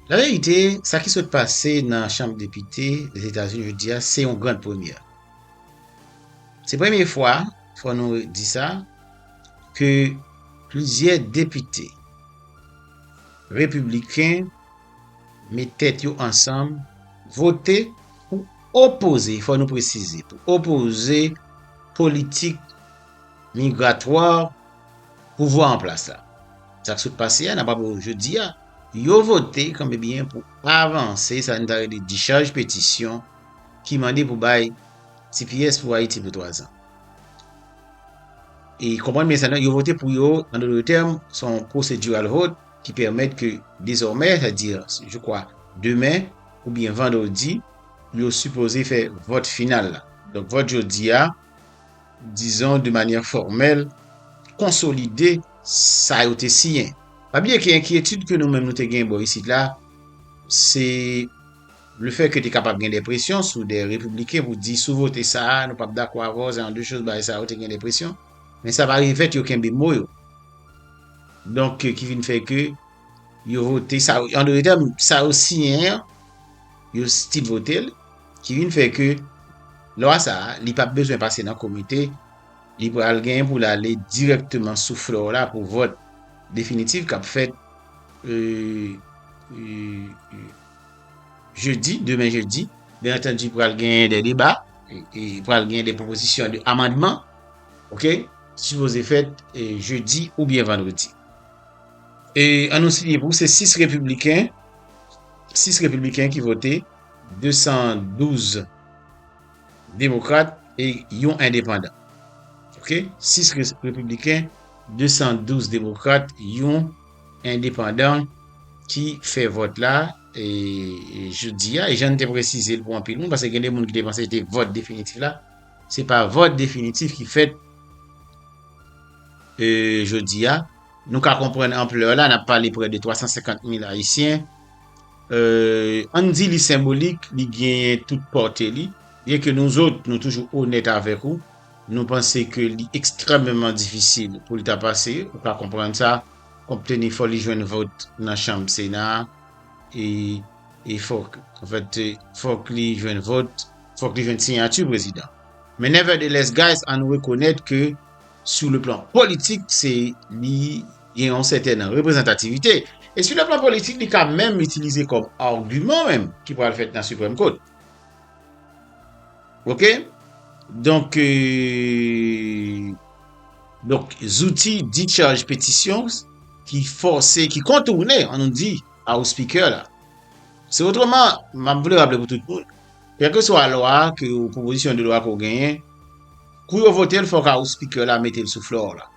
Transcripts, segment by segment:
Nan reyalite, sa ki sot pase nan Chanm Depite Lèzetazini jodi a se yon grand premyè. Se premye fwa, fò nou di sa, ke plizyè depite repibliken met tèt yo ansanm vote pou opoze, fò nou presize, pou opoze politik migratwa, Pouvwa an plas la. Sa k sot pase a, n ap aple yo jodi a, yo vote kanmebyen pou avanse sa n ta rele dichaj petisyon ki mande pou bay tps pou Ayiti pou 3 zan. E konprann byen sa, yo vote pou yo, an dotr tèm, se yon procedural vote ki pèmèt ke dezòmè, sa di je kwa demen oubyen vandredi, yo sipoze fè vòt final la. Donk vòt jodi a. dizon de manyè fòmèl, konsolide sa yo te siyen. Pa bliye ke enkyetid ke nou menm nou te gen bò isit la, se le fè ke te kapab gen de presyon sou de repibliken pou di sou vote sa a, nou pap dakò avè w, jan de choz bagay sa yo te gen de presyon. Men sa pa revèt yo kenbe mo yo. Donk ki vin fè ke yo vote sa yo, an dotè sa yo siyen an, yo stil vote l. Ki vin fè ke lwa sa a, li pap bezwen pase nan komite, li pral genyen pou l ale dirèkteman sou floor la pou vòt definitif kap fèt jedi, demen jedi. Byen antandi pral genyen de deba, e pral genyen de pwopozisyon de amandman, ok, ki sipoze fèt jedi oubyen vandredi. E an nou siye pou se 6 repibliken, 6 repibliken ki vote. 212 demokrat e yon endepandan. Ok 6 repibliken, 212 demokrat, yon endepandan ki fè vòt la jodi a. E jan n te presize l pou anpil moun, paske gen de moun ki te panse se te vòt definitif la, se pa vòt definitif ki fèt jodi a. Nou ka konprann anplè la, n ap pale prè de 350 mil ayisyen. Ann di li senbolik, li genyen tout pòte li. Byenke nou zòt, nou toujou onèt avèk ou, nou panse ke li ekstrèmeman difisil pou li ta pase, ou ka konprann sa, konpteni fò li jwenn vòt nan chanm Sena a, e fòk, anfèt, fòk li jwenn vòt, fòk li jwenn siyati prezidan. Men nevertheless guys, ann rekonèt ke sou le plan politik, se li. Gen yon sètèn reprezantativite, e sou le plan politik li ka menm itilize kòm agiman menm ki pral fèt nan Siprèm Kot. Ok? Donk, donk zouti discharge petisyon ki fòse, ki kontourne an nou di House Speaker la. Se otreman, m ap vle raple pou tout moun, kèlkeswa lwa ke ou, pwopozisyon de lwa ke ou genyen, kou yo vote l fòk House Speaker la mete l sou floor la.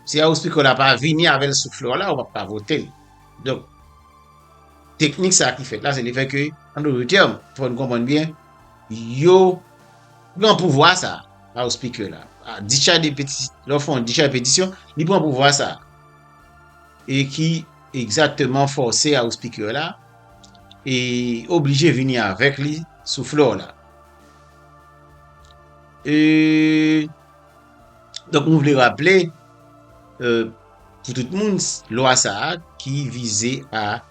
Si a ou spikò la pa vini avèl sou flè w la ou pap ka votel. Donk teknik sa ki fèt la se le fè ke an dout tèm fò nou konprann byen yo pran pouvwa sa a ou spikè la a dichay de peti lè w fè yon dichay petisyon li pran pouvwa sa e ki egzakteman fòse a ou spikè la e oblije vini avèk li sou flè w la e Donk nou vle raple pou tout moun lwa sa a ki vize a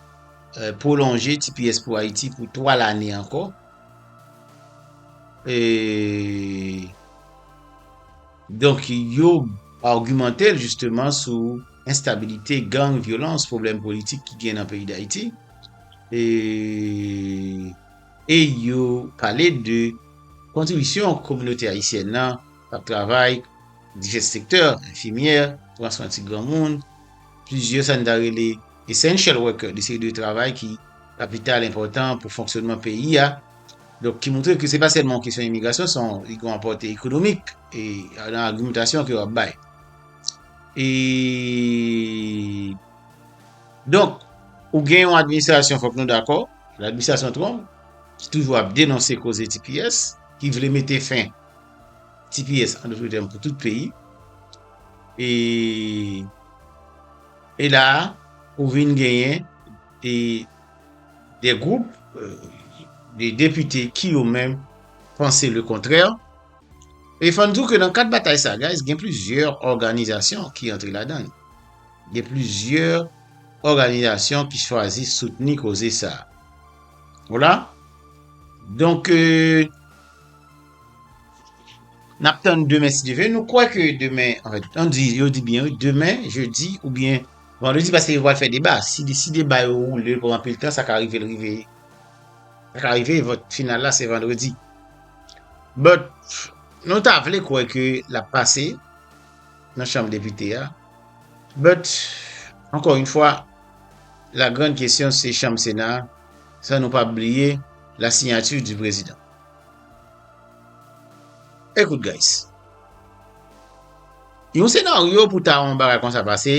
pwolonje tps pou Ayiti pou 3 lane ankò e donk yo argumante l jisteman sou enstabilite gang, vyolans, pwoblèm politik ki gen nan peyi Dayiti e e yo pale de kontribisyon kominote ayisyèn nan K ap travay divès sektè, enfimyè, pran swen ti granmoun, plizyè sa n ta rele essential worker, de seri de travay ki kapital enpòtan pou fonksyonman peyi a. Donk ki moutre ke se pa sèlman yon kesyon imigrasyon, son li gon apòte ekonomik e nan agimentasyon ke yo ap bay. E donk ou gen yon administrasyon fòk nou dakò, administrasyon Trump ki toujou ap denonse koze tps, ki vle mete fen Tps an doutre tèm pou tout peyi e e la a ou vin genyen e de gwoup de depite ki yo menm panse le kontrè e fò n di w ke nan kad batay sa guys gen plizyè òganizasyon ki antre ladann gen plizyè òganizasyon ki chwazi soutni koze sa a w la donk e Nap tann demen si Dye vle. Nou kwè ke demen, an fèt, an di, yo di byen wi, demen, jedi, oubyen vandredi, paske yo pral fè deba. Si li, si deba yo woule, pran anpil tan, sa ka rive l rive, sa ka rive vòt final la se vandredi. But, nou ta vle kwè ke lap pase nan chanm depite a. But, ankò yon fwa, la grand kesyon se chanm sena a, san nou pa bliye la sinyati di prezidan. Ekout guys. Yon senaryo pou ta yon bagay konsa pase,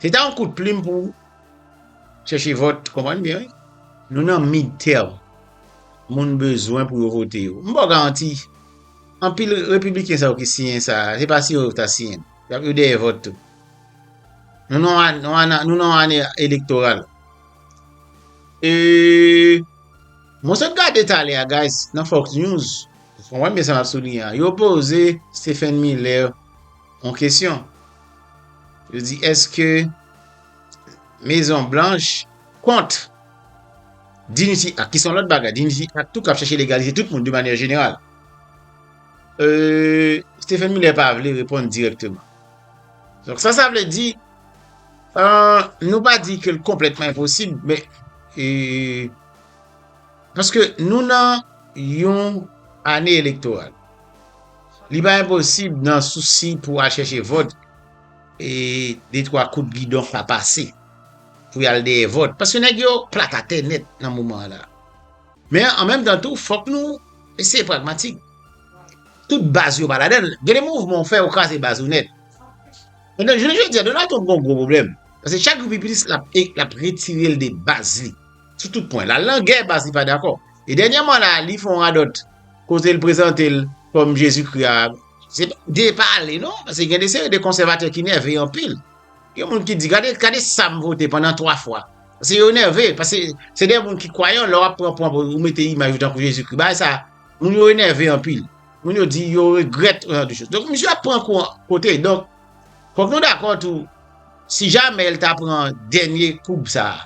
se ta yon kout plim pou chèche vòt, konprann byen wi. Nou nan midterm. Moun bezwen pou yo vote yo. M ba w garanti, anpil repibliken sa yo ki siyen sa, se pa siyen yo ta siyen. Yo dèyè vòt tou. Nou nan yon ane elektoral. E... Mwen sot gade talè a guys nan fox news ou konprann byen sa map souliyen an yo poze Stephen Miller yon kesyon yo di eske mezon blanch kont Dignity Act ki son lòt bagay Dignity Act tou kap chèche legalize tout moun de manyè jeneral euh Stephen Miller pa vle reponn direkteman donk sa sa vle di euh nou pa di ke l konplètman enposib men euh Paske nou nan yon ane elektoral. Li pa enposib nan sousi pou al chèche vòt, e de twa kout gidon pa pase pou y al dèyè vòt. Paske nèg yo plat atè nèt nan moman an la. Men an menm tan tou fòk nou eseye pragmatik. Tout baz yo pa ladan l. Gen de mouvman ou fè ou kraze baz ou nèt. Ebyen jounen jodi a Donald Trump gen yon gwo pwoblèm. Paske chak jou pi plis l ap retire l de baz li. sou tout pwen. L al nan gè pase li pa dakò. E dènyèman la a, li fè yon radòt kote l prezante l kòm Jezikri a. Se pa depale non, pase gen de seri de konsèvatè ki nève anpil. Gen moun ki di, gade, gade sa m vote pandan twa fwa. Pase yo nève, pase se de moun ki kwayan, lè w ap pran pwen pou ou mete imaj yo tankou Jezikri. Bagay sa a, moun yo enève anpil. Moun yo di yo regrèt yon jan de chos. Donk, misye ap pran kou an kote. Donk, fòk nou dakò tou, si jamè l ta pran dènye koub sa a,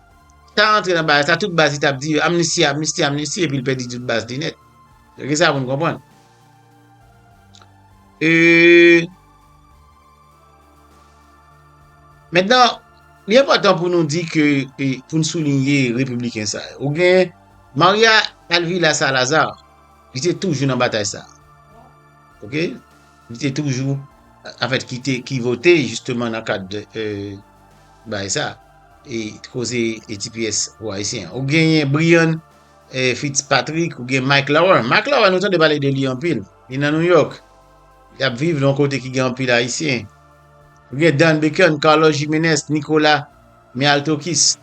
Ta antre nan bagay sa tout baz li tap di yo amnisti amnisti amnisti epil pèdi tout baz li nèt regle sa poun konprann eee mentnan li enpòtan pou nou di ke poun soulinye repibliken sa yo ou gen marya alvila salaza li te toujou nan batay sa ok li te toujou anfèt ki te ki vote jisteman nan kad eee Bagay sa e koze e tps pou ayisyen an. Ou genyen Brian Fitzpatrick, ou gen Mike Lauer. Mike Lauer nou tande pale de li anpil. Li nan New York. Li ap viv nan kote ki gen anpil ayisyen. Ou gen Dan Bacon, Carlos Jimenez, Nicolas Mialtokis.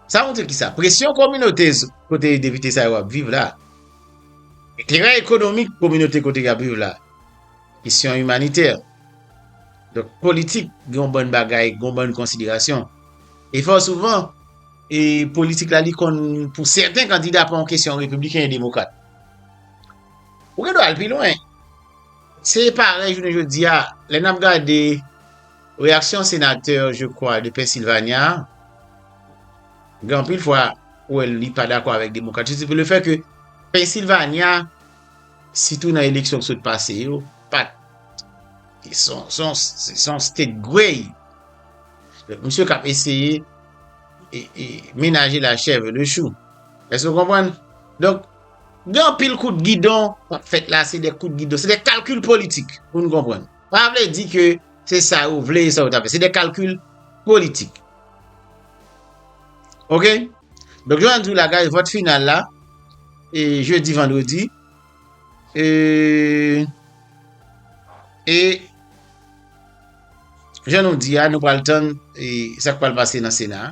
Sa montre ki sa? Presyon kominote kote depite sa yo ap viv la. Enterè ekonomik kominote kote y ap viv la. Kesyon imanitè. Donk politik gen yon bann bagay, gen yon bann konsiderasyon. E fò souvan, e politik la li konn pou sèten kandida pa yon kesyon repibliken e demokrat. Ou gen dwa al pi lwen. Se parèy jounen jodi a, lè n ap gade reyaksyon senatè je kwa de Pennsylvania a, gen anpil fwa ou wè li pa dakò avèk demokrat. Se pou le fè ke Pennsylvania. Sitou nan eleksyon ki sot pase yo, pat se yon state gwey. Misye kap eseye menaje la chèv e le chou. Èske nou konprann? Donk, gen anpil kout gidon kap fèt la, se de kout gidon, se de kalkil politik pou nou konprann. Pa vle di ke se sa yo vle, se sa yo ta vle. Se de kalkil politik. Ok, donk yo an di w la guys, vòt final la, e jeudi vendredi, e, e, jan nou di a, nou pral tann, e, sa k pral pase nan sena a.